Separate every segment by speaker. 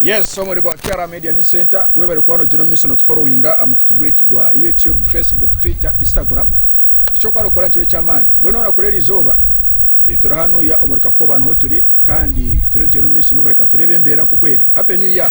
Speaker 1: Yes, omuri gwa KR Media News Center webare kuba nogira omu miso notuforowinga aha mukutu gwaitu gwa YouTube, Facebook, Twitter, Instagram. Ekyokuba nokora nikyo eky'amaani. Mbwenu orikora eri izooba eh, turi hanu ya omuri Kakoba niho turi kandi turiyo nitugyenda omu miso n'okureka tureebe embeera nk'oku eri. Happy New Year!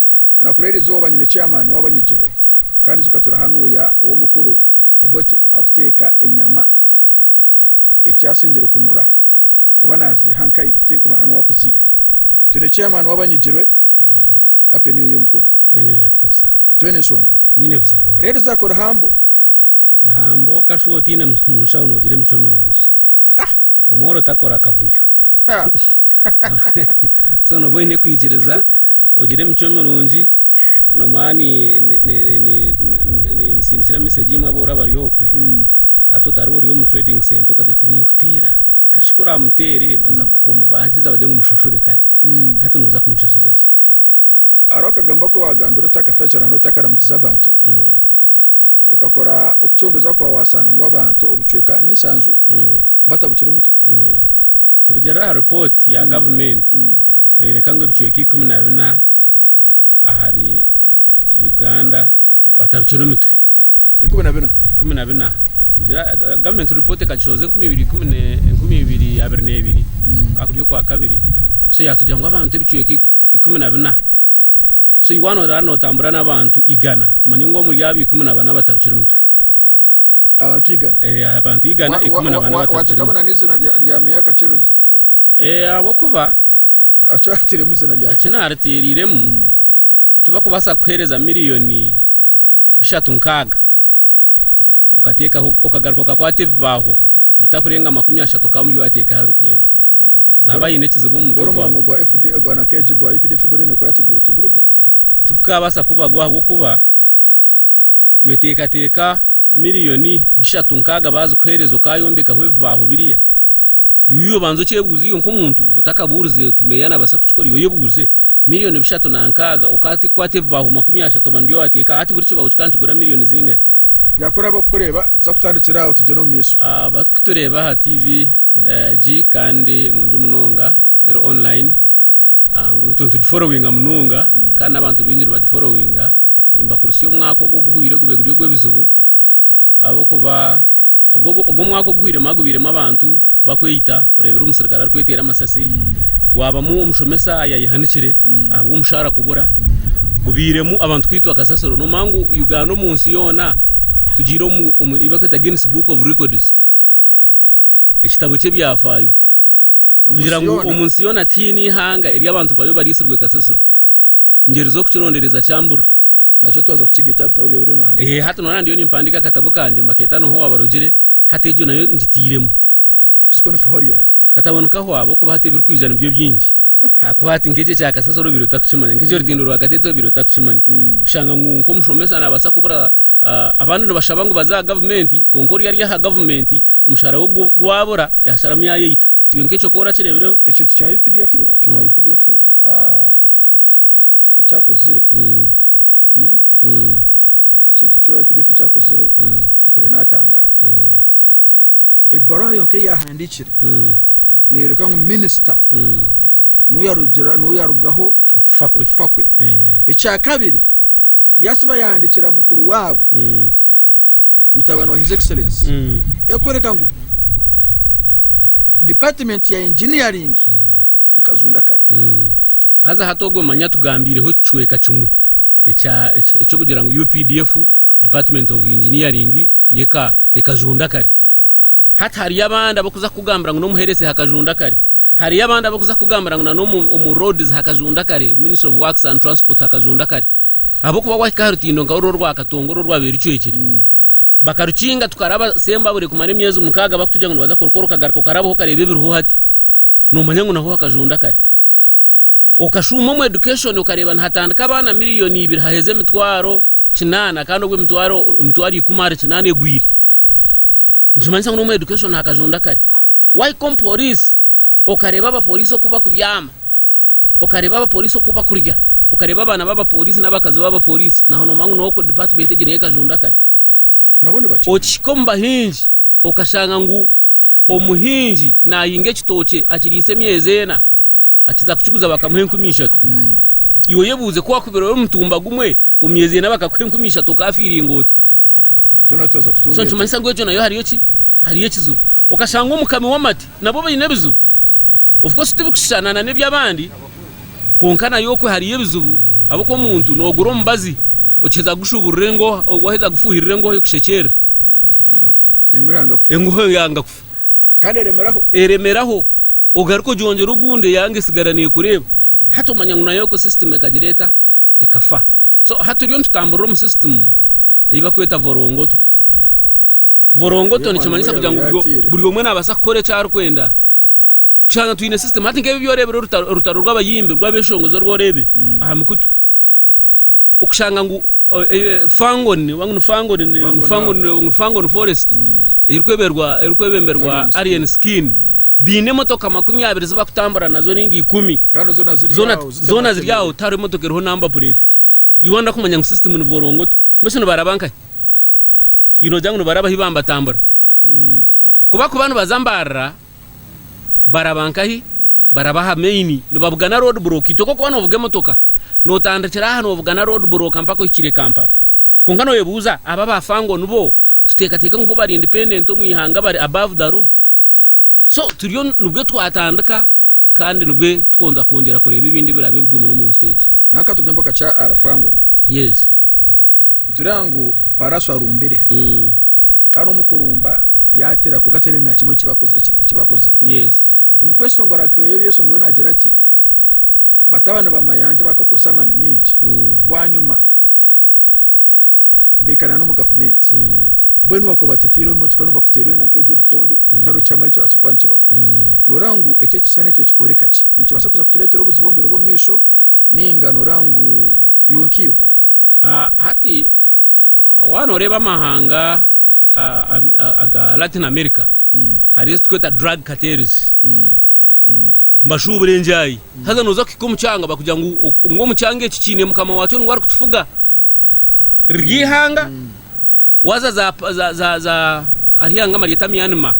Speaker 1: Orakora eri izooba nyine chairman w'abanyigirwe kandi zikatura hanuuya ow'omukuru Obote akuteeka enyama eki asingire kunura oba naziiha nkai tinkumanya n'owakuziiha. Twine chairman w'abanyigirwe. Happy new year mukuru. Happy new year too sir.
Speaker 2: Twena enshonga.
Speaker 1: Nyine buzibu bwona.
Speaker 2: Rero zakora
Speaker 1: humble. Humble kashuba otaine
Speaker 2: mushaho nogira emicwe mirungi. Ah! Omworo takora akavuyo. So nooba oine kwikiriza, ogire emicwe mirungi, nomara ninsindikira mesegi imwe abu oraba ori okwe, hati otariba ori omu trading center okagira oti ninkuteera, kasha ku oraamuteere nibaza kukukoma, baaheza bagire ngu mushashure kare. Hati nooza kumushashuza ki? Hariho akagambo aku waagambire oti akatagira ngu otakaramugize abantu. Okakora okucondoza kwawe wasanga ngu abantu obucweka nishanju batabucire emitwe. Kurugiirira aha ripooti ya gavumenti neyoreka ngu ebicweka ikumi na bina ahari Uganda batabucire emitwe. Ikumi
Speaker 1: na bina?
Speaker 2: Ikumi na bina. Gavumenti ripooti ekagishohoza enkumi ibiri ikumi enkumi ibiri abiri nebiri, kukaba kuri okwakabiri. So yatugira ngu abantu ebicweka ikumi na bina So iwe waaba oraba nootambura n'abantu igana, manya ngu omuri abo ikumi na bana batabukire omutwe. Abantu
Speaker 1: igana? Ee, aha bantu igana,
Speaker 2: ikumi na bana batabukire omutwe. Waateekamu na n'eizina rya
Speaker 1: meeya akakyebezo? Ee,
Speaker 2: ahabw'okuba. Eki
Speaker 1: waateiremu eizina rya. Eki naateereiremu,
Speaker 2: tibakubaasa kukuheereza miliyooni bishatu nkaaga. okateekaho okagaruka okakwata ebibaaho bitakurenga makumi ashatu okaba ori waateeka aha rutindo naaba haine ekizibu omu mutwe gwaawe. Bw'orumu omurimo gwa FDA ogwa
Speaker 1: nakeegi gwa UPDF guriyo nikukora tigurugura. Tigukabaasa
Speaker 2: kubagwa ahabw'okuba weteekateeka miriyoni bishatu nkaaga baazikuheereza okayombekaho ebibaaho biriya, iwe obanze okyebuuze iwe nk'omuntu otakabuurize otu meeya naabaasa kukikora iwe oyebuuze. Miriyoni bishatu na nkaaga. Okakwata ebibaaho makumi ashatu oba nibyo waateeka. Hati buri kibaaho kikaba nikigura miriyoni zingahi? Yaakora abarikukureeba
Speaker 1: tuza kutandikira aho tugyere omu maisho. Abarikutureeba aha
Speaker 2: TV egi kandi nungi munonga, eri online, ngu nitugiforowinga munonga kandi n'abantu baingi nibagiforowinga. Nimbakurisya omwaka ogu oguhweire gube guri ogw'ebizibu ahabw'okuba. Ogwo omwaka oguhwiremu hagubairemu abantu bakweita, oreebire omusirikare arikweteera amasasi, gwabamu omushomesa ayayehanikire ahabw'omushaara kubura, gubairemu abantu kwitwa kasasiro. Noomanya ngu Uganda omu nsi yoona tugiire omu omu ei barikweta Guinness Book of Records, ekitabo ky'ebyafaayo. Omu Kugira nsi ngu yoona. omu nsi yoona tihaine eihanga eri abantu baryo bariitsirwe kasasiro. Ngeri z'okukirondereza kyamburira. Nakyo twaza
Speaker 1: kukiga ita aha bitabo byaawe ebiriyo noohandiika? Ehe, hati noreeba ndiyo nimpandiika
Speaker 2: akatabo kangye mbakeeta Noha Owaabarugire, hati egyo nayo ngitairemu. Siko nikaho
Speaker 1: aryari. Katabo nikaho aba okuba
Speaker 2: hati ebirikwija nibyo bingi ahakuba hati nk'ekyo ekya kasasiro obaire otakukimanya, nk'ekyo rutindo rwa kateete obaire otakukimanya. Kushanga ngu nk'omushomesa naabaasa kubura abandi nibashaba ngu baze aha gavumenti kwonka ori ari aha gavumenti omushaara we gwabura yaasharamu yaayeita. Iwe nk'ekyo kora kirebireho. Ekintu kya updf
Speaker 1: eki wa updf ekyakozire ekintu eki wa updf ekyakozire mpure natangara ebaruha yonka eyahandikire neyoreka ngu minister nuyarugira nuyarugaho okufa kwe
Speaker 2: ekyakabiri
Speaker 1: Yaasiba yahandiikira mukuru waabo, mutabani wa His Excellency, erikworeka ngu Dipatimenti ya Engineering ekazunda kare. Haza
Speaker 2: hati ogwo manya tugambiireho ekicweka kimwe eky'okugira ngu updf, Department of Engineering, ekazunda kare. Hati hariyo abandi abarikuza kukugambira ngu n'omu Health hakazunda kare. Hariyo abandi abarikuza kukugambira ngu n'omu Roads hakazunda kare, Ministry of Works and Transport hakazunda kare. Ahabw'okuba gwahika aha rutindo nka oru orwa Katonga oru orwabaire rucwekire, bakarukinga tukaraba Sembabure kumara emyezi mukaaga bakutugya ngu nibaza kurukora okagaruka okarabaho okareeba ebiriho hati noomanya ngu naho hakajunda kare. Okashuuma omu education okareeba nihatandika abaana miriyoni ibiri haheza emitwaro kinaana kandi obwo emitwaro emitwaro ikumi ahari kinaana egwire. Nikimanyisa ngu n'omu education hakajunda kare. Waahika omu Poliisi okareeba abaporiisi oku bakubyama. Okareeba abapooriisi oku bakurya, okareeba abaana b'abapooriisi n'abakazi b'abapooriisi, naho noomanya ngu n'ow'oku dipaatimenti egyo niyo ekajunda kare. Nabo nibakimanya.
Speaker 1: Okihika omu bahingi,
Speaker 2: okashanga ngu omuhingi naahinga ekitookye akiriise emyezi ena, akiza kukiguza bakamuha enkumi ishatu. Iwe oyebuuze ku waakubire ori omutumba gumwe, omu myezi ena bakakuha enkumi ishatu okaafiiringa ota? Twena
Speaker 1: twaza kutunga So ente. nikimanyisa ngu egyo nayo hariyo
Speaker 2: ki? Hariyo ekizibu. Okashanga omukami w'amate Nabo baine ebizibu, of course tibikushushana na n'eby'abandi kwonka nayo okwe hariyo ebizibu ahabw'okuba omuntu noogura omubazi okiheza kugushuuburira engooha, waaheza kugufuuhirira engooha ekushekyerera, engooha yanga kufa kandi
Speaker 1: eremeraho
Speaker 2: ogaruke ogyongyere ogundi eyanga etsigara neekureeba, hati omanya ngu nayo okwe system ekagira eta? ekafa so hati turiyo nitutamburira omu system eyi bakweta vorongoto vorongoto nikimanyisa kugira ngu buri omwe nabasa kukora eki arikwenda kushanga twine system hati nkebi byorebire orutaro rw'abayimbi rw'abeshongozi orworebire mm. aha mikutu okushanga ngu fangon wangu fangon fangon fangon forest mm. erikwebemberwa alien skin mm. Baine emotoka makumi abiri zi bakutambura nazo nainga ikumi. Kandi zoona ziri Zoona aho
Speaker 1: zitematemiire. zoona
Speaker 2: ziri aho tihariho emotoka eriho namba pureeti. You wonder kumanya ngu system nivorongoto. Mbwenu shi nibaraba nkahi? You noogira ngu nibaraba ahi bambatambura? Kuba kuba nibaza mbarira, baraba nkahi? Baraba aha main nibabugana road block. Itwe ku orikuba noovuga emotoka, nootandikira aha noobugana road block mpaka ohikire Kampala. Kwonka nooyebuuza, aba ba Fango nibo tuteekateeka ngu bo bari independent omu ihanga bari above the law? So turiyo nibwe twatandika kandi nibwe tukonza kwongyera kureeba ebindi ebiraabe bigumire omu nsi egi. Nawe ka tugambe oka kya
Speaker 1: Alpha ngu ni. Yes.
Speaker 2: Nitureeba
Speaker 1: ngu Paraso arumbire. Kandi omu kurumba yaatera kwonka tihariho na kimwe eki baakozire ki? Eki baakozireho. Yes.
Speaker 2: Omu kweshongora
Speaker 1: kwe y'ebyeshongoro naagira ati, Batabani ba mayangye bakakozesa amaani maingi. Bwanyima. bekarana omu gavumenti Mm. mbwenu wakuba batateireho emotoka no bakuteera wena nkejo ebikonde kare okyamara ekibasa kuba nikibaho Mm. noraba ngu eki ekishushani ekyo kikoreka ki nikibasa kuza kuturetera obuzibu omu biro byomumaisho ninga noraba ngu iwe nkiwe Ah,
Speaker 2: hati ah, waaba noreeba amahanga ah, am- ah, aga latin america Mm, hariyo ezitukweeta drug cartels mm, mbashuubure ngye ahi. Haza nooza kuhika omu kyanga, bakugira ngu ngu omu kyanga eki kiine mukama waakyo ngu arikutufuga. Riryo eihanga, waaza za za za za hariho eihanga nibaryeta Myanmar,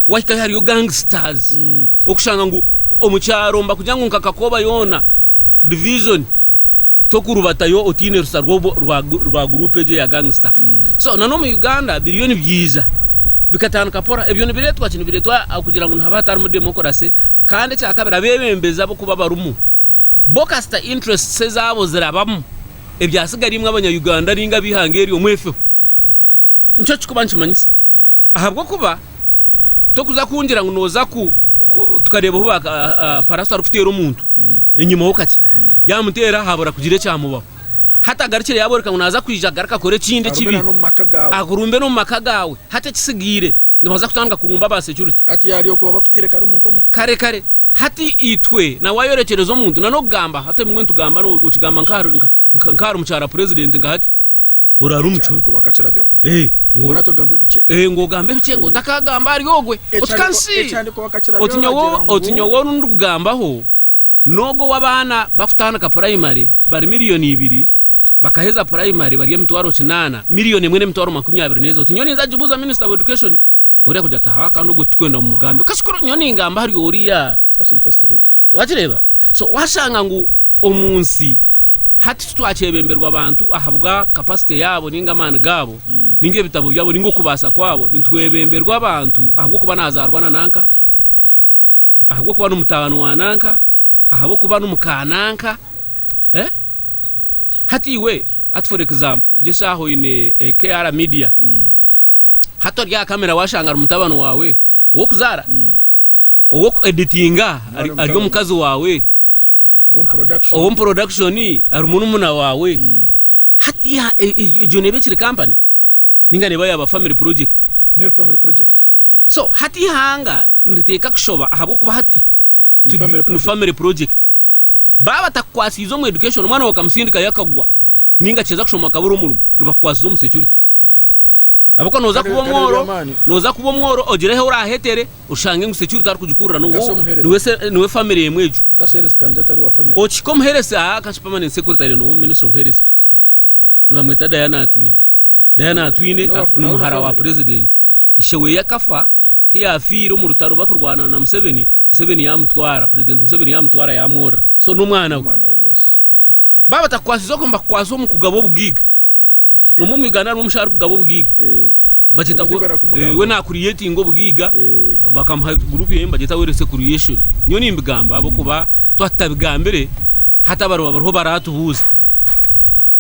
Speaker 2: wahikayo hariyo gangsters, orikushanga ngu omu kyaro nibakugira ngu nka Kakooba yoona, division, tokurubatayo otaine rusa rwa guruupu egyo ya gangsita. So na n'omu Uganda biriyo nibyija bikatandika pora. Ebyo nibireetwa ki? Nibireetwa okugira ngu nihaba hatarimu demokorase. Kandi ekyakabiri abeebembezi ab'okuba barimu bo kasita interests ezaabo zirabamu, ebyatsigareimwe abanya Uganda nainga ab'eihanga eryo mwefeho. nikyo kirikuba nikimanyisa. Ahabw'okuba torikuza kungira ngu nooza tukareeba obu baaparaso arikuteera omuntu enyima ho kakye, yaamuteera haabura kugira ekyamubaho. Hati agarukire yaabooreka ngu naaza kwija agaruke akore ekindi ekibi, akurumbe n'omu maka gaawe. Hati ekitsigaire nibaza kutandika kurumba aba securite.
Speaker 1: Kare kare. Hati
Speaker 2: itwe na waayorekyereza omuntu, n'okugamba hati ebimwe nitugamba, okigamba nk'ahari mukyara purezidenti nka hati, orara omu
Speaker 1: kihome ngu ogambe ebikye ngu
Speaker 2: otakagamba ahari ogwe oti nyowe oru ndikugambaho nogu owabaana bakutandika purayimari bari miriyoni ibiri bakaheza purayimari bari emitwaro kinaana miriyoni emwe nemitwaro makumi abiri nezo oti nyowe ninza kugibuuza minisita wa edukashoni ori kugira ati ahaa kandi ogwe titurikwenda mumugambe nyowe ningamba ahari oriya
Speaker 1: Wakireeba? So
Speaker 2: washanga ngu omu nsi hati titwakyebemberwa abantu ahabwa capacity yaabo ninga amaani gaabo ninga ebitabo byabo ninga okubaasa kwabo nitwebemberwa abantu ahabw'okuba nazaarwa na nanka ahabw'okuba n'omutaano wa nanka ahabw'okuba n'omuka nanka eh? hati iwe hati for example gye shaaha oine eh, KR media hati ori aha kamera washanga ari mutabani waawe ow'okuzaara Ow'oku editinga ari omukazi waawe, ow'omu porodakishoni ari murumuna waawe. Hmm. Hati e, e, egyo neeba ekiri kampani ninga neeba yaaba family project neri family project so hati ihanga niriteeka kushoba ahabw'okuba hati ni family project Baaba batakukwasiize omu education, omwana waawe okamusindikayo akagwa ninga kiheza kushoma akabura omurimo, nibakukwasiza omu security ahabw'okuba noza kuba omworo, noza kuba omworo ogire ahu orahetere oshange ngu security arikugikurira niwe niwe family emwe egyo.
Speaker 1: Okihika omuheresi aha
Speaker 2: kasha permanent secretary n'owa ministry of health nibamweta Diana Atwine. Diana Atwine ni muhara wa president, ishe weye akafa. Ku yaafiire omu rutaro barikurwana na Museveni, Museveni yaamutwara, Purezidenti Museveni yaamutwara yaamworora. So n'omwana we. Omwana we, yes. Baaba batakukwasize okwe nibakukwasa omu kugaba obugaiga. Nomwe omu Uganda harimu omusha arikugaba obugaiga. Eh, Bagyeta Obugaiga gu- barakumugamba. eh, we naakuriyetinga obugaiga eh, bakamuha gurupu ye nibagyeta werise kuriyeshoni nyowe nimbigamba ahabw'okuba twaba tutabigambire hati abariba bariho baraatubuuza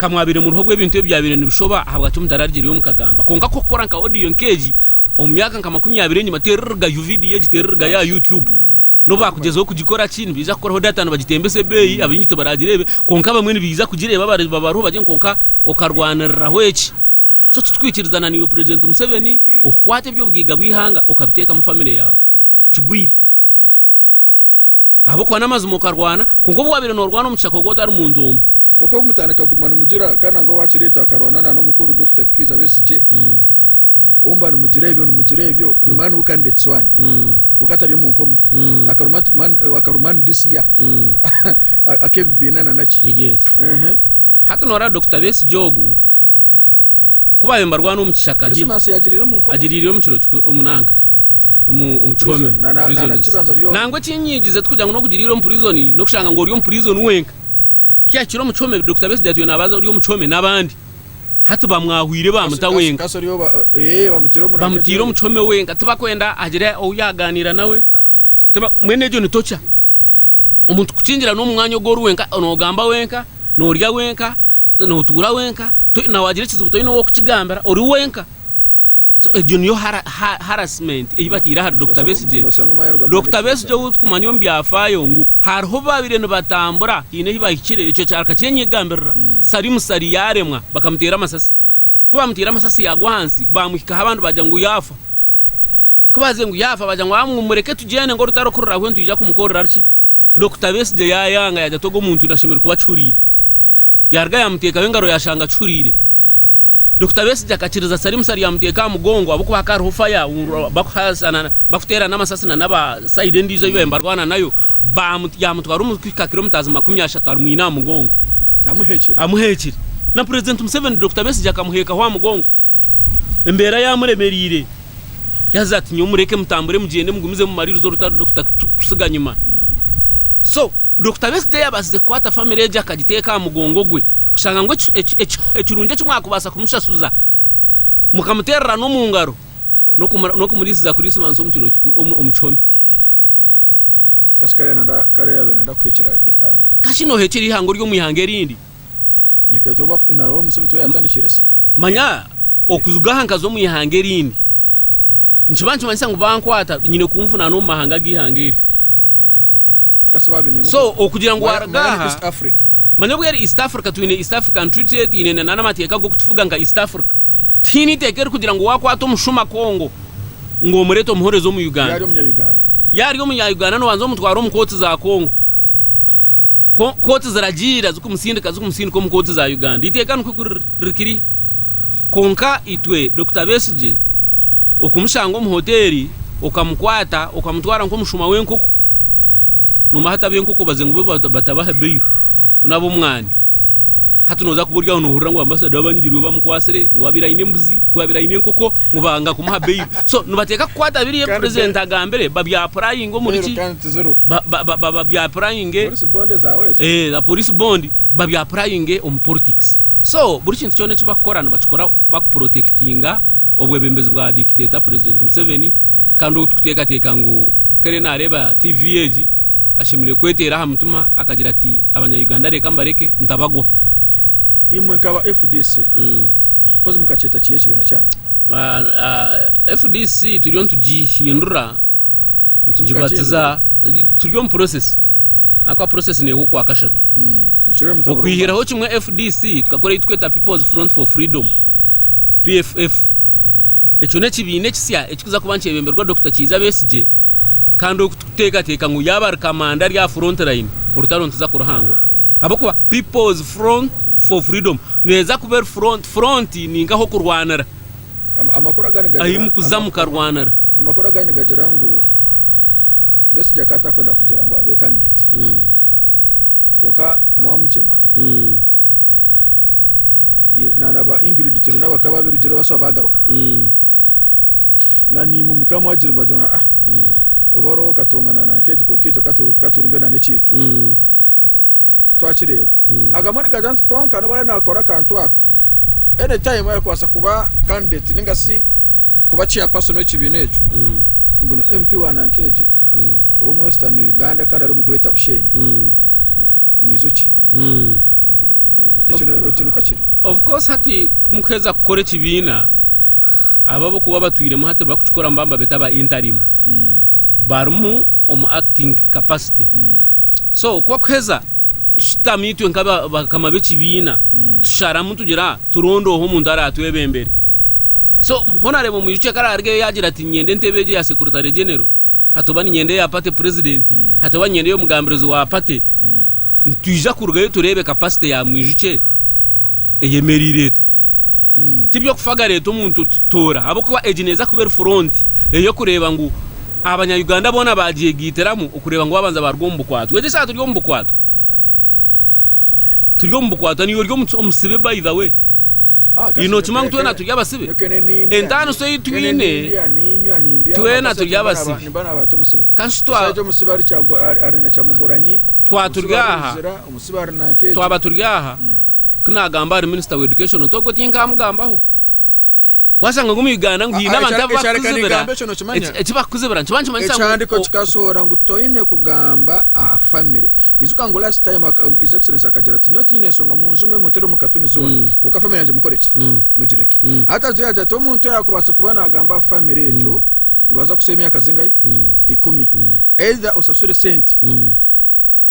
Speaker 2: ka mwabaire muriho obw'ebintu ebi byabaire nibishoba ahabwaki mutararugirire mukagamba kwonka ku okukora nka odiyo nk'egi Omu myaka nka makumi abiri enyima, teera orugaju vidiyo egi, teera orugaju aha YouTube. N'obu baakugyezaho kugikora ki, nibaija kukoraho data nibagitembesa ebeeyi, abaingi tibaragireebe. Kwonka abamwe nibaija kugireeba abariba bariho bagire ngu kwonka okarwaniriraho eki. So titwikirizaana naiwe Purezidenti Museveni okukwata eby'obugaiga bw'eihanga okabiteekamu famire yaawe. Kigwire. ahabw'okuba n'amazima okarwana kwonka obu waabaire noorwana omu kishaka ogu otari muntu omwe Kwonka obu mutaaneka kuguma
Speaker 1: nimugira kandi nangwa waakireetwa akarwana na n'omukuru Dokita Kikwiza Besigye, obu muba nimugira ebyo nimugira ebyo ni man who candidates one kwonka atari omu nkomo akaruma nti man akaruma and this year ak'ebibiina na naki.
Speaker 2: Hati nooreeba Dokita Besigye ogu. Ku baabaire nibarwana omu kishaka hi,
Speaker 1: agiriireyo omu kiro kikuru omu
Speaker 2: nanka omu kihome, prisons. Nangwa eki nyigize tikugira ngu n'okugiriira omu prison n'okushanga ngu ori omu prison wenka. Kya kiro omu kihome Dokita Besigye atwire naabaza ori omu kihome n'abandi. Hati bamwahwire baamuta wenka. Bamutaire omu kihome wenka tibakwenda hagire ou yaagaaniira nawe. Tiba mbwenu egyo ni torture. Omuntu kukingira n'omu mwanya ogu ori wenka noogamba wenka. Noorya wenka, nootuura wenka, na waagira ekizibu toine ow'okukigambira, ori wenka. So egyo niyo harassment ei bataire ahari Dokita Besigye. Dokita Besigye ou turikumanya omu byafaayo ngu hariho baabaire nibatambura haine ahi baahikire ekyo akakyenyegambirira, mm. sari musari yaaremwa bakamuteera amasasi. Ku baamuteire amasasi yaagwa ahansi, baamuhikaho abandi baagira ngu yaafa. Ku baaze ngu yaafa, baagira ngu, Amu, mureke tugyende ngu orutarikurira hwe nitwija kumukorera ari ki? Dokita Besigye yaayanga, yaagira ati, Ogwo muntu nda ashemereire kuba akihuriire. Yaaruga yaamuteekaho engaro yaashanga akihuriire. Dokita Besigye akakiriza Salimusa ryamuteeka aha mugongo ahabw'okuba hakaba hariho faya bakuhasana, bakuteerana amasasi nana aba sayidi endiijo ei baabaire nibarwana nayo. Baamu, yaamutwara omu kuhika kiromitazi makumi ashatu amwine aha mugongo. Amuheekire. Amuheekire. Na Purezidenti Museveni Dokita Besigye akamuheekaho aha mugongo. Embeera yaamuremereire, yaaza ati, Nyowe mureke mutambure mugyende mugumize mumariirize orutaro Dokita kutusiga nyima. So, Dokita Besigye yaabaasize kukwata famire egyo akagiteeka aha mugongo gwe kushanga ngu ekirungi eki mwakubaasa kumushashuza mukamuteerera n'omu ngaro n'okumuriisiza Kuriisimansi omu kihome.
Speaker 1: Kashi kare yaabaire naija kuheekyera eihanga? Kashi nooheekyera eihanga
Speaker 2: ori omu ihanga erindi? Reka tuba
Speaker 1: na roho Museveni tuba yatandikire se. Manya
Speaker 2: okujuga aha nkaza omu ihanga erindi nikiba nikimanyisa ngu bankwata nyine kunvunaana omu mahanga ag'ihanga eryo. Kasi baabi
Speaker 1: nimu So okugira ngu Maya- waaruga
Speaker 2: Maya ni aha East Africa.
Speaker 1: manya obu eri East
Speaker 2: Africa twine East African Treaty twine na- n'amateeka g'okutufuga nka East Africa. Tihaine iteeka erikugira ngu waakwata omushuma Congo ngu omureete omuhoreze omu Yaari Uganda. omunya Uganda. Yaari omunya Uganda noobanza omutware omu kooti za Congo. Ko kooti ziragiira zikumutsindika zikumutsindika omu kooti za Uganda. Iteeka nikwo ku rikiri. Kwonka itwe Dokita Besigye okumushanga omu hoteeri okamukwata okamutwara nk'omushuma w'enkoko. Nomuha atabi enkoko obaze ngu bo batabaha bail ku n'abomwaani. Hati noza kuba ori aho nohurira ngu ambassador we abanyigirwe bamukwatsire ngu abaire aine embuzi ngu abaire aine enkoko. ngu banga kumuha bail so nibateeka kukwata biri ebi president agambire ba bya purayinge omuriki ba bya purayinge
Speaker 1: eeh za police bond
Speaker 2: ba bya purayinge omu politics so buri kintu kyona eki bakukora nibakikora baku protectinga obwebembezi bwa dictator president museveni kandi ogu tukutekateka ngu ku ariyo nareeba TV egi ashemerire kweteera aha mutima akagira ati abanya Uganda reka mbareke ntabagwaho imwe
Speaker 1: nka ba fdc. mpozi mukakyeta ki ekibiina kyanyu? FDC
Speaker 2: turiyo nitugihindura nitugibatiza turi omu process ahakuba process neha okwa kashatu okwihiraho kimwe FDC tukakora ekiturikweta People's Front for Freedom PFF ekyo nekibiina ekisya ekikuza kuba nikyebemberwa Dokita Kiiza Besigye kandi oku tukuteekateeka ngu yaaba ari kamanda ari aha front line orutaro nituza kuruhangura ahabw'okuba People's Front for Freedom Neeza kuba eri front. Front ni nka ah'okurwanira,
Speaker 1: ahi mukuza mukarwanira.
Speaker 2: Amakuru agandi nigagira
Speaker 1: ngu Besigye akaba atakwenda kugira ngu abe candidate kwonka Mwamugyema na ba Ingrid Turina bakaba babirugireho bashuba bagaruka na naimwe mukaba mwagira ngu oba oriho katongana na nka egi kwonka itwe ka turunge na n'ekyaitu. twakireeba agamwe nigagira nti kwonka nobu ariyo nakora akantu ako any time ayakubasa kuba candidate ningasi kuba chair person wekibiina ekyo ngu ni MP wa Nankegire owomu western Uganda kandi ari omu greater Bushenyi mwijuki
Speaker 2: ekyo nikwo kiri of course hati mukuheza kukora ekibiina abo abokuba batwiremu hati bakukikora mubamba beta ba interim barimu omu acting capacity So ku bakuheza tushutama itwe nka bakama b'ekibiina mm. tusharamu tugira turonda oho omuntu aratwebembere so honarebo omwijuki akararigeyo yagira ati nyenda entebe egyo ya sekuritare genero hatoba ninyenda eya pate purezidenti mm. hatoba ninyenda ey'omugambirizi wa pate mm. ntwija kurugayo turebe kapasite ya mwijuki eyemereire eta Ti by'okufagara eti omuntu toora ahabw'okuba egi neeza kuba eri furonti ey'okureeba ngu Abanya-Uganda boona baagyegaitiramu okureeba ngu baabanza baaruga omu bukwatwa. Egi eshaaha turi omu bukwatwa. Turi omu bukwatwa. Naiwe ori omusibe by the way. Iwe nookimanya ngu twena turi abasibe? Entaaniso ei twine twena turi abasibe. Ka shi twa twaturya
Speaker 1: aha, twaba turi aha,
Speaker 2: Ku naagamba ahari minister wa education otu ogwo tinkamugambaho. Waashanga ngu omu Uganda ngu haine abantu abu barikuzibira eki bakukuzibira nikiba nikimanyisa ngu. Ekihandiiko kikasohora
Speaker 1: ngu toine kugamba aha family. Ijuka ngu last time his excellency akagira ati nyowe tinyine nshonga munjume muntere omu katuni zoona kwonka family yangye mukore ki? Mugireke. Hati ajwaire agira ati omuntu yaakubaasa kuba naagamba aha family egyo nibaza kukusiba emyaka zingahi? Ikumi. Either osasure sente.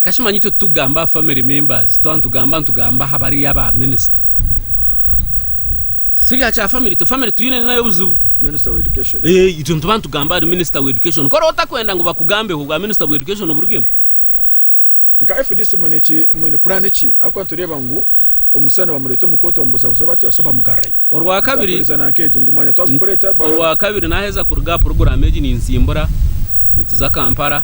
Speaker 2: Kashimanyi itwe titugamba aha family members twaba nitugamba nitugamba aha bariya ba minister sibya kya family itwe family twine nayo obuzibu Minister wa education.
Speaker 1: Eh, itwe nituba nitugamba
Speaker 2: ahari minister wa education kora otakwenda ngu bakugambeho obwa minister bwa education oburugemu
Speaker 1: Nka fdc mwine ki mwine plan ki ahakuba nitureeba ngu omusana bamureeta omu kooti bamubuzabuza oba batyo basa bamugarrayo. Orwakabiri, Mutakwiriza
Speaker 2: na nk'egyo ngu mwanya
Speaker 1: twagukureeta ba- Orwakabiri naheza
Speaker 2: kuruga aha puroguramu egi ninsimbura nituza Kampala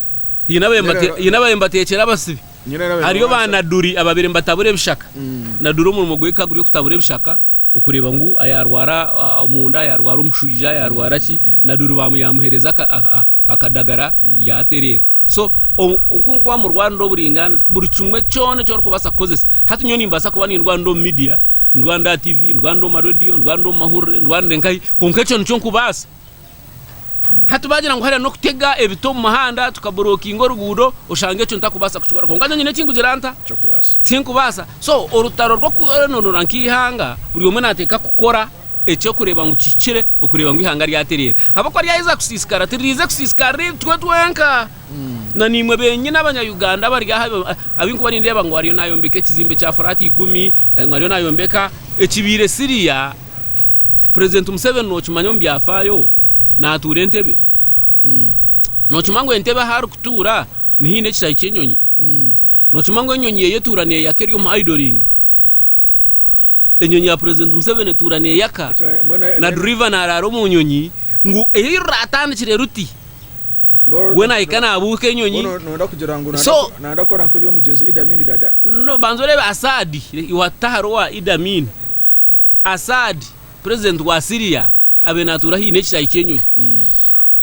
Speaker 2: Haine abaabaire nibateekyera abasibe. Hariyo baanaduri abaabaire nibatabura ebishaka. Naduri omurimo gwe ka guri okutabura ebishaka, okureeba ngu yaarwara omunda, yaarwara omushwija, yaarwara ki, naduri yaamuheereza akadagara yaatereera. So nk'oku waamurwanira oburaingaaniza, buri kimwe kyona eki orikubaasa kukoresa. Hati nyowe nimbaasa kuba nindwanira omu miidiya, ndwanire aha tiivi, ndwanire omu mareediyo, ndwanire omu mahurire, ndwanire nkahi, kwonka ekyo nikyo nkubaasa? Hati baagira ngu hariya n'okutega ebiti omu muhanda tukaburokinga oruguudo, oshanga ekyo ntarikubaasa kukikora. Kwonka nyowe nyine eki ngugira nta? Tinkubaasa. So orutaro rw'okwenoonora nk'eihanga buri omwe naateeka kukora eky'okureeba ngu kihikire okureeba ngu eihanga ryatereera. Ahabw'okuba ryaheza kusiisikara, tiririize kusiisikarira itwe twenka. Na naimwe benyine abanya-Uganda abari aha abu nkuba nindeeba ngu ariyo nayombeka ekizimbe kya furaati ikumi, ngu ariyo nayombeka ekibaire siriya, Purezidenti Museveni nokimanya omu byafaayo natuura Entebbe? Nokimanya ngu Entebbe ahu arikutuura niho haine ekishahi ky'enyonyi? Nokimanya ngu enyonyi ye etuura neyaka eri omu idling? Enyonyi ya Purezidenti Museveni etuura neyaka na duriva naraara omu nyonyi ngu eyi ruratandikire ruti? we nahika nabuuka enyonyi so
Speaker 1: no banza orebe
Speaker 2: Assad watutahara owa Idi Amin Assad president wa Syria abe natuura haine ekishayi kyenyonyi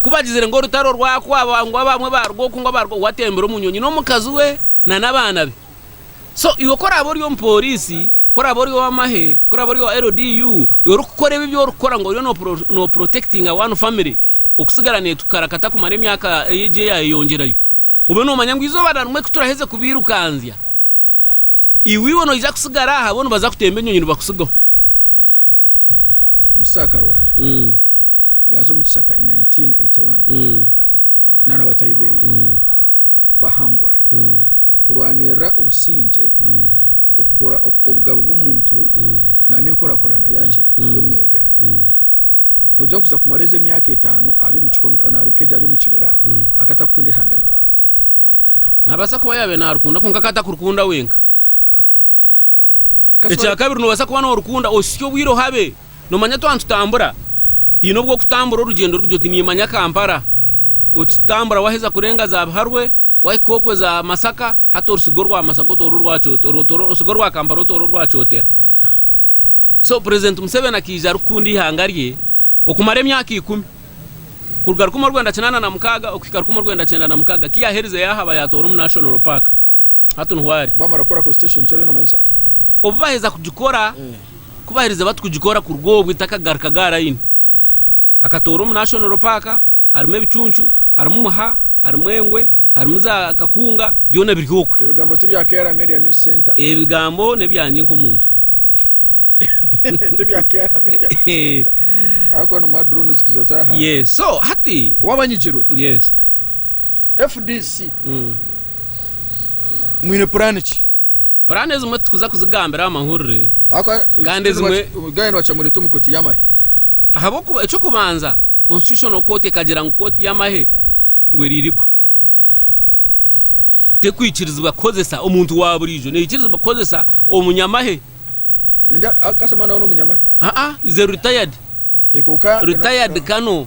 Speaker 2: kubagizire ngu orutaro rwakwaba ngu abamwe baruga oku ngu abaruga oku watembire omu nyonyi nomukazi we nana abaana be. So iwe ku oraabe ori omupooriisi, ku oraabe ori ow'amahe, ku oraabe ori owa LDU, iwe orikukora ebi ebi orikukora ngu oriyo noopurotekitinga one family okutsigara neetukarakata kumara emyaka egi eyaayeyongyerayo, obe noomanya ngu eizooba na rimwe ku turaheza kubairukanzya, iwe noija kutsigara aha bo nibaza kutemba enyonyi nibakutsigaho.
Speaker 1: Omusaho akarwana, yaaza omu kishaka in 1981 na na bataahi beye. bahangura, kurwanirira obusingye, okukora obugabe bw'omuntu nana enkurakurana yaki y'omunyayuganda. Nogira ngu kuza kumara ezi emyaka etano ari omu kihome nari nk'egi ari omu kibira akaba atakukunda ihanga rye?
Speaker 2: Nabasa kuba yabaire narikunda kwonka akaba atakurikunda wenka. Ekya kabiri nobasa kuba norikunda ositsya obwire ohabe. Nomanya twaba nitutambura haine obu okutambura orugyendo rukye oti nimanya Kampala okitambura waheza kurenga za Biharwe wahika okwe za Masaka hati orusiga orwa Masaka otoora orwa Kyotera osiga orwa Kampala otoora orwa Kyotera so President Museveni akaija arikukunda eihanga rye okumara emyaka ikumi kuruga rukumi orwenda kinaana na mukaaga okuhika rukumi orwenda kyenda na mukaaga ku yaherize yahaba yatoora omu National Park hati niho ari. Bamara kukora Constitution nikyo
Speaker 1: oriyo nomanyisa? Obu baheza
Speaker 2: kugikora. kubahiriza bati kugikora kuruga obwo etakagarukaga aha layini. Akatoora omu Nashonoro Paaka, harimu ebicuncu, harimu muha, harimu engwe, harimu za kakunga, byona biri okwe. Ebigambo tibya Kayala
Speaker 1: Media News Centre. Ebigambo nebyangye
Speaker 2: nk'omuntu. Tibya
Speaker 1: Kayala Media News Centre. Ahakuba nimuha drone zikuza za hansi. Yes so hati.
Speaker 2: Wabanyigirwe? Yes.
Speaker 1: FDC mwine puraani ki? Puraani ezimwe
Speaker 2: titukuza kuzigambira aha mahurire kandi ezimwe.
Speaker 1: Gayana owacha mu Ritumu Kooti y'amahe. Ahabw'okuba
Speaker 2: eky'okubanza Constitutional Court ekagira ngu Kooti y'amahe ngu eri legal. Tekwikirizibwa kukozesa omuntu wa buriijo, neekirizibwa kukozesa omunyamahe.
Speaker 1: Ningira kasita omwana wawe n'omunyamahe. Aa, is a retired, retired Colonel.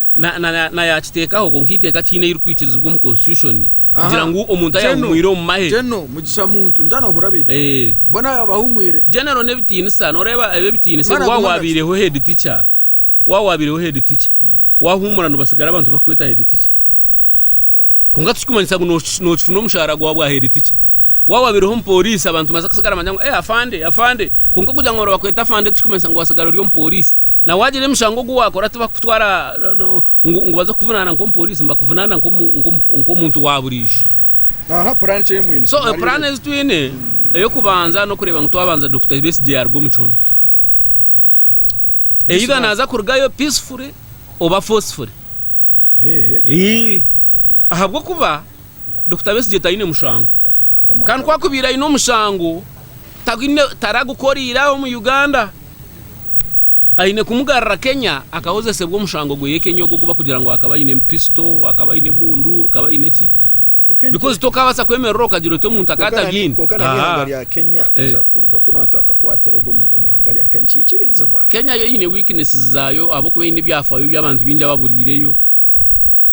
Speaker 2: nayakiteekaho kwonka eiteeka tihaine ei ririkwikirizibwa omu Constitution kugira ngu omuntu ayahumwire omu mahe.
Speaker 1: General n'ebitiinisa,
Speaker 2: nooreeba ebi ebitiinisa ebi waaba waabaireho head teacher, waaba waabaireho head teacher, waahuumura nibasigara abantu bakukweta head teacher. Kwonka tikikumanyisa ngu nookifuna omushaara gwawe bwaheeri tikye. Waaba wabaireho omupooriisi abantu nibabaasa kusigara nibagira ngu, Ee afande, afande. Kwonka okugira ngu nibakweta afande tikikumanyisa ngu waasigara ori omupooriisi. Na waagira emishango ogu waakora tibakukutwara ngu baze kukuvunaana nk'omupooriisi, nibakuvunaana nk'omuntu waaburiijo.
Speaker 1: So puraani ezi twine,
Speaker 2: ey'okubanza n'okureeba ngu twabanza Dokita Besigye yaaruga omu kihome. Either naaza kurugayo peacefully oba forcefully. ahabw'okuba Dokita Besigye taine mushango kandi ku akubaire aine omushango taragukoreire aha omu Uganda, aine kumugarura Kenya akahoresibwa omushango gwe y'e Kenya ogu bakugira ngu akaba aine pisito, akaba aine emundu, akaba aine ki. because tokabaasa kwemerera okagira oti omuntu akaba atabyine. Kwonka nana ihanga rya Kenya
Speaker 1: eh. kuza kuruga kunu abantu bakakwatira ogwo muntu omu ihanga rya Kenya nikikirizibwa. Kenya yo eine weaknesses
Speaker 2: zaayo ahabwokuba eine ebyafaayo byabantu bingi ababuriireyo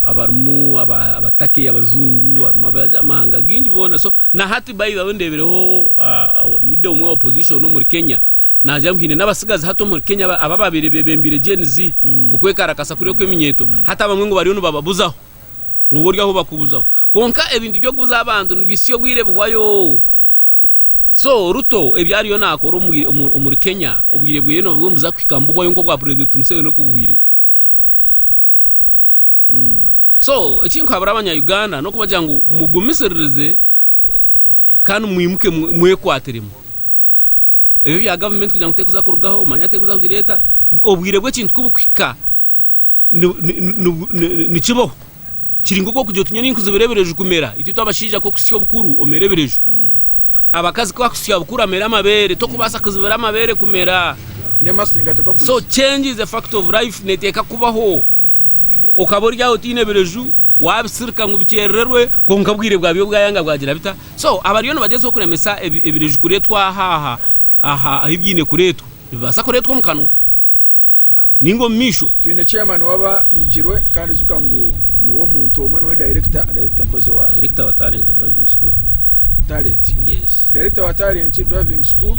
Speaker 2: abarimu aba aba Turkey abajungu harimu abamahanga gingi boona so nahati by the way ndeebireho ah leader omwe owa opposition omuri Kenya naagira ngu haine nabatsigazi hati omuri Kenya aba ababire bebembire Gen Z okwekarakasa kuriya okweminyeeto hati abamwe ngu bariyo nibababuzaho. Nooba ori ahu bakubuzaho. Kwonka ebintu by'okubuza abantu nibisya obwire bihwayo. So Ruto ebi ariyo nakora omuri Kenya obwire bweye nooba nibuza kuhika nibuhwayo nk'obwa President Museveni okubuhwire. So eki nkuhabura abanya Uganda n'okubagira ngu mugumisiririze kandi mwimuke mwekwatiremu. ebyo bya gavumenti kugira ngu tekuza kurugaho manya tekuza kugira eta obwire bw'ekintu kubukuhika nikibaho kiri nk'oku okugira otunye ninkuzibira ebireju kumera itwe twabashaija kokusya obukuru omera ebireju abakazi kwakusya bukuru amera amabeere tokubaasa kuzibira amabeere kumera so change is a fact of life neteeka kubaho okaba oryaho otaine ebireju wabisirika ngu bikyerererwe kwonka obwire bwabyo bwayanga bwagira bita So abariyo nibagyezaho kuremesa ebiriju kuretwa aha aha ahu byaine kuretwa nibibasa kuretwa omu kanwa ninga omu maisho. Twine chairman waba
Speaker 1: nyigirwe kandi zuka ngu niwe omuntu omwe niwe director, director mpozi owa. Director wa talent driving
Speaker 2: school. Talent.
Speaker 1: Yes. Director wa talent driving school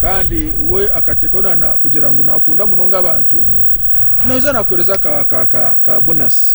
Speaker 1: kandi we akatekaho na na kugira ngu nakunda munonga abantu mm. Naija nakuhereza ka ka ka ka bonus.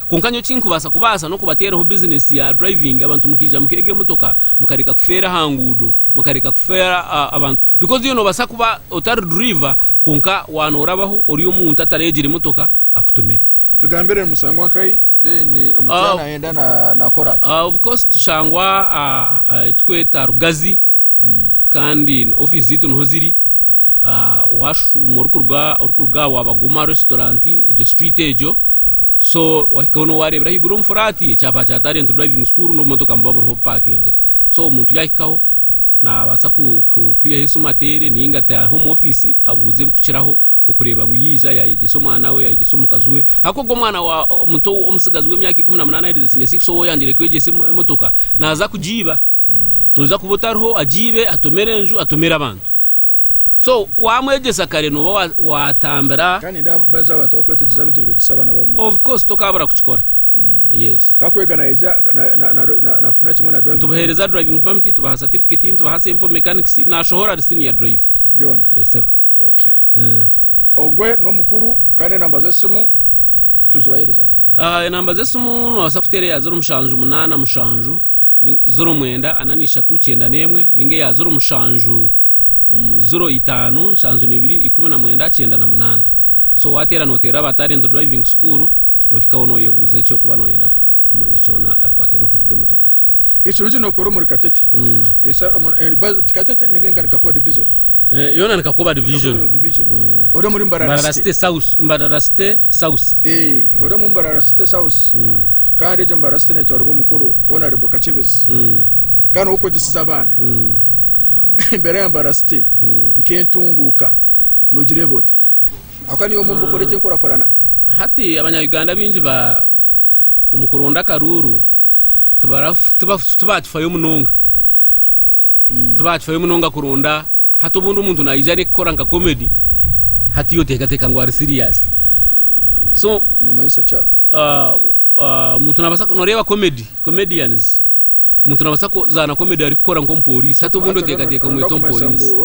Speaker 2: Kwonka nyowe ekinkubaasa kubaasa n'okubateeraho bizinesi ya driving abantu mukaija mukeega emotoka mukareka kufeera aha nguudo mukareka kufeera abantu because iwe nobaasa kuba otari driver kwonka waaba norabaho ori omuntu ataregire emotoka akutumire. Tugambire nimushangwa
Speaker 1: nkai then omukyara nayenda nakora ata? Of course tushangwa
Speaker 2: ahu tukweta Rugazi. kandi office zaitu niho ziri washuma orikuruga aha waba guma restaurant egyo street egyo so wahikaho niho wareebera ahaiguru omu flat ekyapa kya talent driving school n'obumotoka nibuba buriho bupakingire so omuntu yahikaho nabaasa kwihaho esimu ateere ninga ataahe omu office abuuze ebikukiraho okureeba ngu yaija yayegyesa omwana we yayegyesa omukazi we ahakuba ogwo omwana omuto omutsigazi w'emyaka ikumi na munaana aherize senior six ou oyangire kwegyesa emotoka naaza kugiiba. Noija kuba otariho, agiibe, atomere enju, atomere abantu. So waamwegyesa kare nooba waatambira. Kandi nindeeba baza
Speaker 1: abantu abarikwetegyesa bintu nibeegyesa abaana baabo muto. Of course tokaabura
Speaker 2: kukikora. Yes. Ka kwega naija
Speaker 1: naafuna kimwe na driving permit. Nitubaheereza driving permit,
Speaker 2: tubaha certificate, nitubaha sample mechanics, naashohora ari senior drive. Byona? Yes sebo.
Speaker 1: Okay. Ogwe n'omukuru kandi enamba z'esimu tuzibaheereza? Enamba
Speaker 2: z'esimu noobaasa kuteera eya zero mushanju munaana mushanju. ziro mwenda ana n'ishatu kyenda n'emwe ninga eya ziro mushanju ziro itaano nshanju n'ibiri ikumi na mwenda kyenda na munaana so wateera noteerera aba talent driving school nohikaho noyebuuza ekyokuba noyenda kumanya kyona abikwataine n'okuvuga emotoka Ekirungi nokora
Speaker 1: omuri Katete Katete ninga engari Kakuba division eh, yona ni Kakuba
Speaker 2: division mm. ori omuri
Speaker 1: Mbarara City South Mbarara City
Speaker 2: South eh, ori omu
Speaker 1: Mbarara City South mm. kandi egyo mbarasi ti neetwaribwa omukuru hoona ari bukakyebizi Mm. kandi n'ow'okwegyesiza abaana Mm. embeera ya mbarasi ti Mm. nk'entunguuka noogireeba ota ahakuba niiwe omu bukora eki enkurakurana Hati
Speaker 2: abanya-Uganda baingi ba omu kuronda akaruuru tibara- tiba- tibaakifayo munonga. Tibaakifayo munonga kuronda Hati obundi omuntu naija arikukora nka comedy hati yo tekateka ngu ari serious so nomanyisa ki
Speaker 1: aho ah, ah,
Speaker 2: omuntu nabasa noreeba comedy comedians omuntu nabasa kuzaana comedy arikukora nk'omupolisi hati obundi otekateka omweta omupolisi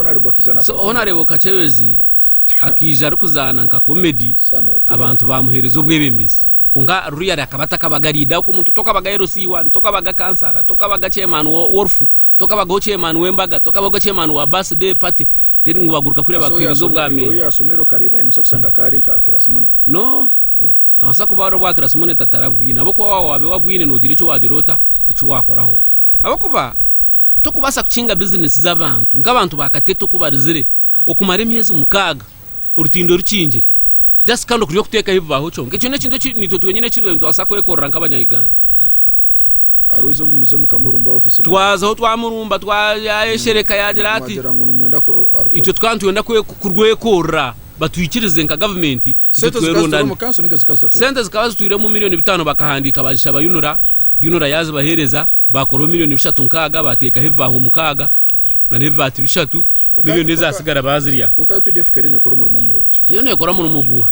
Speaker 2: so ho nareeba okacebezi akaija arikuzaana nka comedy abantu bamuhereza obwebembezi konka ruriyari akaba atakabaga rida omuntu tokabaga LC1 tokabaga kansara tokabaga chairman w'orufu Tokabagaho chairman w'embaga, tokabagaho chairman wa birthday party then ngu baguruka kuriya bakuheereze obwa Mayor. Iwe oyasomire okareeba ahe
Speaker 1: nobaasa kushanga kaari nka class monitor.
Speaker 2: No, nabaasa kuba ari obwa class monitor atarabwine ahabw'okuba waaba waabe wabwine noogira eki waagira ota, eki waakoraho ahabw'okuba tokubaasa kukinga business z'abantu nk'abantu ba Katete oku barizire okumara emyezi mukaaga. orutindo rukingire just kandi okuri okutekaho ebibaaho kyonka ekyo nekintu eki nitwe twenyine eki nitubasa kwekorera nkabanya Uganda.
Speaker 1: Arwaize obu muze mukamurumba office mukora. Twazaho twamurumba
Speaker 2: twayeshereka yagira ati Mwagira ngu nimwenda ko arukora. Itwe tukaba nitwenda kurwekorera batwikirize nka government itwe Sente zikaba zitwire twerondane. omu
Speaker 1: kanso ninga zikaba zitatoka. Sente
Speaker 2: zikaba zitwire omu million bitaano bakahandika bazishaba UNRA, UNRA yazibahereza bakoraho million bishatu nkaaga batekaho ebibaaho mukaaga. na ebibaati bishatu miliyoni ezatsigara bazirya. Kwonka updf kare nekora
Speaker 1: omurimo murungi. Yo nekora murimo guha?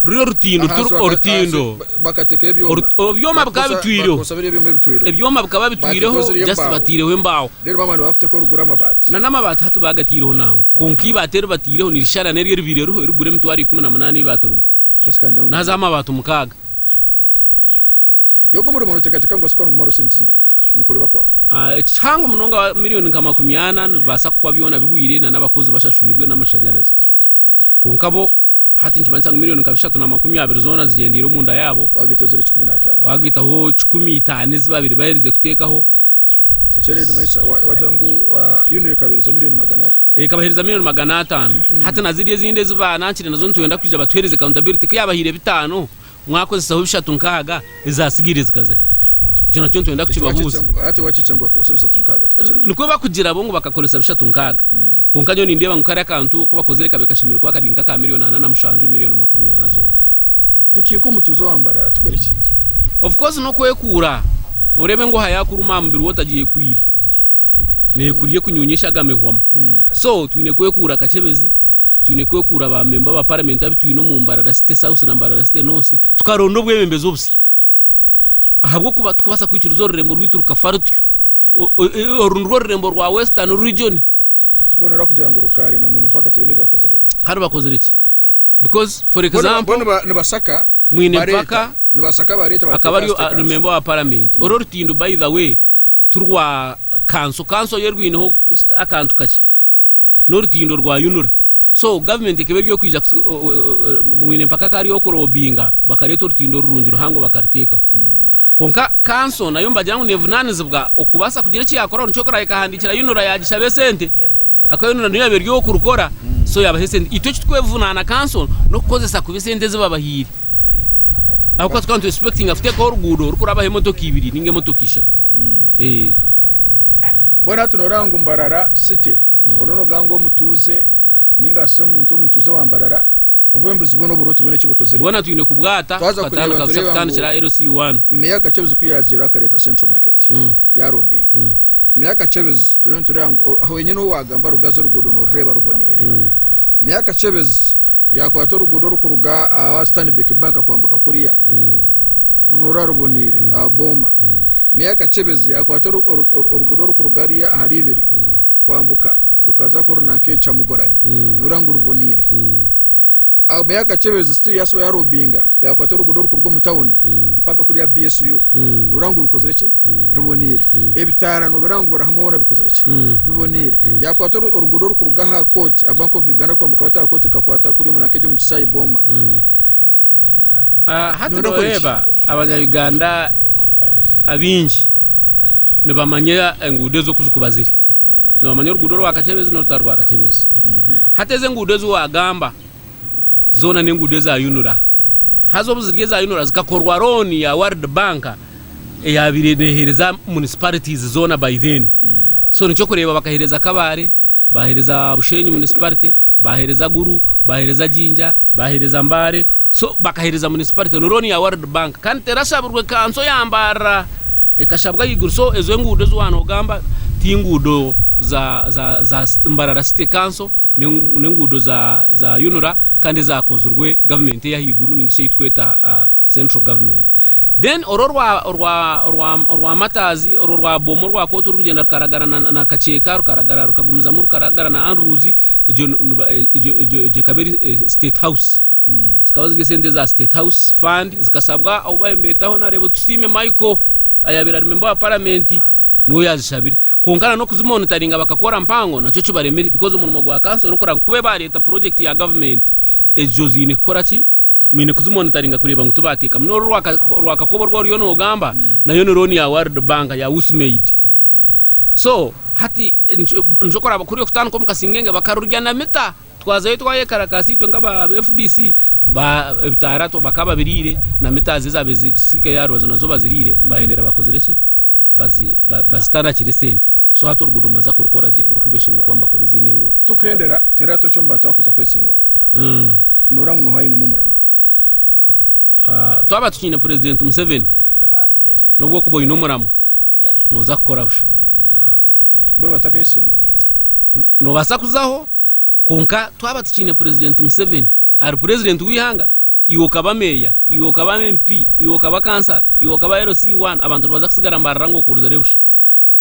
Speaker 2: Ruri orutindo, ruturi orutindo. Bakatekaho
Speaker 1: ebyoma. Ebyoma bikaba
Speaker 2: bitwireho. Bakozesa biri ebyoma ebitwireho. Ebyoma bikaba bitwireho, just batireho embaaho. Rero bamara nibakuteka orugura
Speaker 1: amabaati. Na n'amabaati hati
Speaker 2: bagatireho nango. Kwonka ibaati eribatireho nirishara neryo eribire eriho erigura emitwaro ikumi na munana ibaati rimwe. Naza amabaati mukaaga.
Speaker 1: Eki kihango munonga
Speaker 2: wa milioni nka makumi ana nibibaasa kuhwa byona bihweire na n'abakozi bashashwirwe n'amashanyarazi. Kwonka bo hati nikimanyisa ngu milioni nka bishatu na makumi abiri zoona zigyendeire omunda yaabo, waagaitaho
Speaker 1: kikumi
Speaker 2: itaano ezi baabaire baherize kuteekaho.
Speaker 1: Ekabahereza milioni magana
Speaker 2: atano. Hati na ziri ezindi ezi baanangire nazo nitwenda kwija batuhereze accountability. Ku yaabahaire bitaano, mwakozesaho bishatu nkaaga, ezaatsigaire zikaza hi? Ekyo nakyo nitwenda kukibabuuza. Hati waakikira ngu bakakozesa
Speaker 1: bishatu nkaaga ti kakye? Nikwo bakugira
Speaker 2: bo ngu bakakoresa bishatu nkaaga. Kwonka nyowe nindeeba ngu kariya kantu aku bakozire kabe kashemereire kuba kari nk'aka milioni ana na mushanju, milioni makumi ana zonka. Nki
Speaker 1: nk'omutuuze owa Mbarara tukore ki? Of course
Speaker 2: n'okwekuura, oreebe ngu oha yaakuruma aha mubiri we otagyekwiire. nekurya ekunyunyesha aga mehwamu so twine kwekuura akacebezi twine kwekuura ba memba ba parliament abitwine omu mbarara city south na mbarara city north tukaronda obwebembezi obusya ahabwokuba tukubasa kwikiriza orurembo rwitu rukafa rutyo oru nirwo orurembo rwa western region bona orakugira
Speaker 1: ngu rukaare na mwine mpaka kibina ebibakozire kare
Speaker 2: bakozire ki because for example nibasaka
Speaker 1: mwine mpaka
Speaker 2: nibasaka bareta
Speaker 1: akaba ari memba wa
Speaker 2: parliament oro rutindo by the way ti rwa kanso, kanso yo erwineho akantu kakye n'orutindo rwa yunura so government ekaba eri okwija mwine mpaka akaba ari okurobinga bakareeta orutindo orurungi ruhango bakariteekaho kwonka kanso nayo mbagira ngu nevunanizibwa okubaasa kugira eki yakoraho nikyo kurahika ekahandikira yunura yagishaba esente Akayonona niryo yaaba ery'okurukora so yaabaha esente. Itwe eki turikwevunaana kanso n'okukozesa kubi esente ezi babahaire. Ahabw'okuba tukaba nitwesipekitinga kuteekaho oruguudo rurikurabaho emotoka ibiri nainga emotoka ishatu.
Speaker 1: Mbwenu hati nooreeba ngu Mbarara City, oriyo noogamba ngu omutuuze nainga shi omuntu omutuuze wa Mbarara, obwembuzi bwona oburooti bwona eki bukozire. Bwona twine kubwata
Speaker 2: tukatandika busha kutandikira LC 1. Meeya Kachebezu ku
Speaker 1: yaazaire akareeta Central Market yaarombinga. Meeya Kachebezu turiyo nitureeba ngu aho wenyine ou waagamba Rugazi oruguudo noorureeba ruboneire. Meeya Kachebezu yaakwata oruguudo orukuruga aha Stanbic Bank kwambuka kuriya nooreeba ruboneire aha Booma. Meeya Kachebezu yaakwata oruguudo orukuruga hariya ahari ibiri. kwambuka rukaza korona nk'ekyamugoranya noreeba ngu ruboneire. Abe yakakyebeza still yasiba ya robinga yakwata orugudo orukuruga omu town mpaka kuriya BSU noreeba ngu rukozire ki? Ruboneire. Ebitaara nobeera ngu birahamwe boona bikozire ki? Biboneire. Yakwata orugudo orukuruga aha court aha Bank of Uganda kwambuka bata aha court rukakwata kuriya omuri Nakegyo omu Kisaayi Booma.
Speaker 2: Hati noreeba abanya Uganda abaingi nibamanya enguudo ezo oku zirikuba ziri. Nibamanya oruguudo orwakakyebezi n'orutari rwakakyebezi. Hati ezi enguudo ezi waagamba zoona n'enguudo eza UNRA. Haza obu ziri eza UNRA zikakorwa rooni ya World Bank eyaabaire neeheereza municipalities zoona by then. So nikyo kureeba bakaheereza Kabale, bahereza Bushenyi municipality, bahereza Gulu, bahereza Jinja, bahereza Mbale so bakahereza municipality ni loan ya world bank kandi terashabirwe kanso ya Mbarara ekashabwa ahaiguru so ezo enguudo ezi waba nogamba ti enguudo za za za Mbarara city kanso nenguudo za za UNRA kandi ezakozirwe government eyahaiguru ninga shi eyi tukweta. central government then orwo orwa orwa orwa orwa matazi orwo orwa boma orwa koti orukugenda rukaragara na, na kacheka rukaragara rukagumizamu rukaragara na andrews egyo nu- nuba- e- egyo egyo egyo ekaba eri eh, state house zikaba ziri esente za state house fund zikasabwa obu babaire nibetaho nareeba otusiime michael ayabaire ari memba wa paramenti niwe yazishabire kwonka na n'okuzimonitaringa bakakora mpango nakyo kibaremire because omurimo gwa kanso n'okuranga kube bareta project ya gavumenti ezo ziine kukora ki Mwine kuzimonitaringa kureeba ngu tibaateekamu. N'oru orwakakoba orwo oriyo noogamba, nayo ni looni ya World Bank, ya Usmaid. So, hati nikyo kuraaba kuri okutandika omu kasingenge. Bakarurya na mita. Twazayo twayekarakaasa itwe nk'aba fdc, ebitaara bakaba babiriire, na mita zo ezaabaire zisigaire aha rubaju nazo baziriire. Baayendera bakozire ki? Bazita nakiri sente. So hati oruguuto nibaza kurukora gye nk'oku baishe-emirimo kuba nibakora ezindi enguuto. Tukuhendera, teerera toki
Speaker 1: omu bantu abarikuza kwetsimbaho. Nooreeba ngu niho ainemu omuramo?
Speaker 2: Twaba tukiine Purezidenti Museveni, n'obwokuba oine omuramwa, nooza kukora busha.
Speaker 1: Bo nibatakayetsimba?
Speaker 2: Noobaasa kuzaho, kwonka twaba tukiine Purezidenti Museveni ari Purezidenti w'eihanga, iwe okaba Meeya, iwe okaba MP, iwe okaba Kansara, iwe okaba LC One, abantu nibaza kusigara nibarora ngu okozire busha.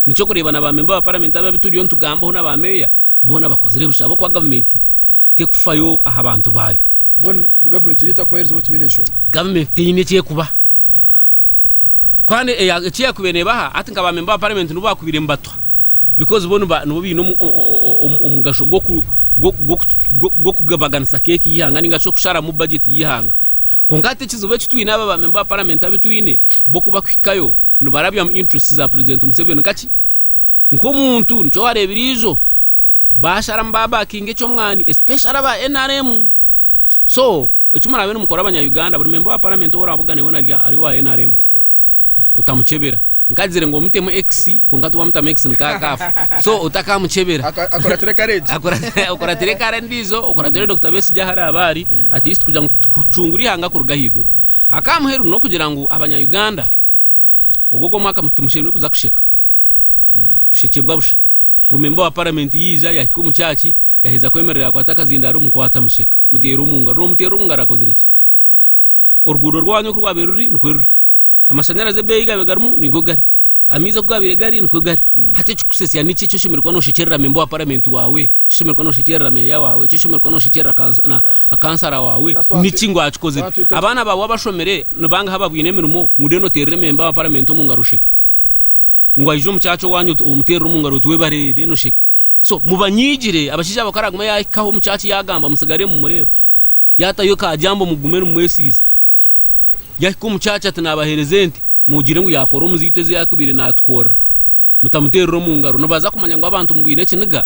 Speaker 2: Nikyo kureeba na baamemba ba Paramenti abu turiyo nitugambaho na baameeya, boona bakozire busha ahabw'okuba gavumenti... tekufayo aha bantu baayo. Mbwenu gavumenti
Speaker 1: niyo
Speaker 2: etakubahereza obu
Speaker 1: tibaine nshonga? Gavumenti teine eki ekubaha. Kukora
Speaker 2: ne, eya, eki yakubaire nebaha, hati nka bamemba ba paramenti nibo bakubaire nibatuha, because bo niba, nibo baine omu, omu, omugasho gwoku, gwoku, gwokugobaganisa keeki y'eihanga ninga shi okusharamu bajeti y'eihanga. Kwonka hati ekizibu eki twine aba bamemba ba paramenti abu twine, bo ku bakuhikayo, nibarabyamu interests za purezidenti Museveni nka ki? nkomuntu nikyo warebire ijo bashara niba backinga ekyomwani especially aba nrm so ekimurabe nimukora abanya Uganda buri member wa parliament owu oravuga nawe narya ari owa nrm otamukyebera nkagizire ngu omutemu X kwonka tiwamutamu X nika akafa so otakamukyebera Aka- akuratire courage
Speaker 1: Akura- okuratire
Speaker 2: kara endijo okuratire Dokita Besigye ahu araba ari at least kugira ngu tukucungure ihanga kuruga ahaiguru akamuheru nokugira ngu abanya Uganda Ogwo ogwo mwaka timushemerire kuza kusheka. Kushekyebwa busha. Ngu memba wa paramenti yaija, yahika omu kyaki, yaheza kwemerera yakwata akazindaaro, mukwata musheka. Muteera omu ngaro. Noomuteera omu ngaro akozire ki? Oruguudo rwanyu oku rwabaire ruri nikwe ruri. Amashanyarazi ebeeyi gaabaire garimu nigo gari. Amaizi oku gaabaire gari nikwo gari. Hati ekirikusesya niki eki oshemereire kuba nooshekyerera memba wa paramenti waawe? Kishemererwa noshekyerera meeya waawe? Kishemererwa noshekyerera kansara waawe? Niki ngu akikozire? Abaana baawe abashomire ni bangahi abaine emirimo ngu then oteerere memba wa paramenti omu ngaro osheke? Ngu aije omu kyakye owaanyu omuteerere omu ngaro oti webare then osheke? So mubanyiigire, abashaija baabo ku araagume yaahikaho omu kyakye yaagamba mutsigare nimumureeba. Yaatayo ka jambo mugume nimwesiize. Yahika omu kyakya ati naabaheereza ente, mugire ngu yaakora omuziitwa ezi yaakubaire naatukorera. Mutamuteerera omu ngaro. Nibaza kumanya ngu abantu mubwine ekiniga,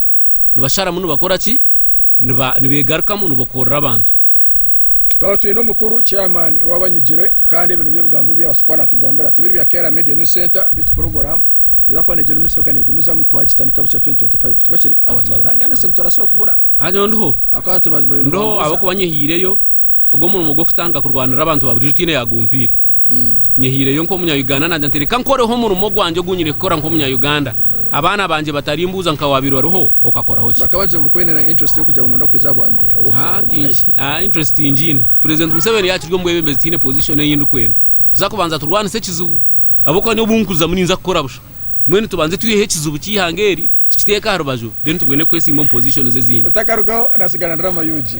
Speaker 2: nibasharamu nibakora ki? Nibeegarukamu nibokoorora abantu. Twaba
Speaker 1: twine omukuru, chairman, owaaba anyigire kandi ebi nibyo bigambo ebi yaabaasa kuba naatugambira. Tibiri bya Kera Media News Centre bitu program neeza kuba neegyenda omu maisho kwonka neegumizamu. Twagitandika bukya 2025 tikwo kiri? Ahabw'okuba twabaire aha Ghana Sing turabaasa okubura. Aha nyowe ndiho,
Speaker 2: ndiho
Speaker 1: ahabw'okuba
Speaker 2: nyehiireyo ogwo murimo gw'okutandika kurwanirira abantu ba burijo tiine yaagumpiire. Nyehiireyo nk'omunya Uganda naagira nti reka nkoreho omurimo gwangye ogu nyine kukora nk'omunya Uganda, abaana bangye batarimbuuza nka waabaire oriho okakoraho ki. Bakaba bagizire ngu ku oine na interest
Speaker 1: y'okugira ngu nooyenda kwija aha bwa meeya oba okuza kukoma nka egi. Haa
Speaker 2: interest ngiine. Purezidenti Museveni yaakiri omwebembezi tihaine position ei ndikwenda. Tuza kubanza turwanise ekizibu ahabw'okuba nyowe obu nkuzamu ninza kukora busha. Mbwenu tubanze twiheho ekizibu ky'eihanga eri, tukiteeke aha
Speaker 1: rubaju,
Speaker 2: then tubwene kwesiima
Speaker 1: omu
Speaker 2: positions ezindi.
Speaker 1: Otakarugaho
Speaker 2: nasigara ndi
Speaker 1: Ramayugi.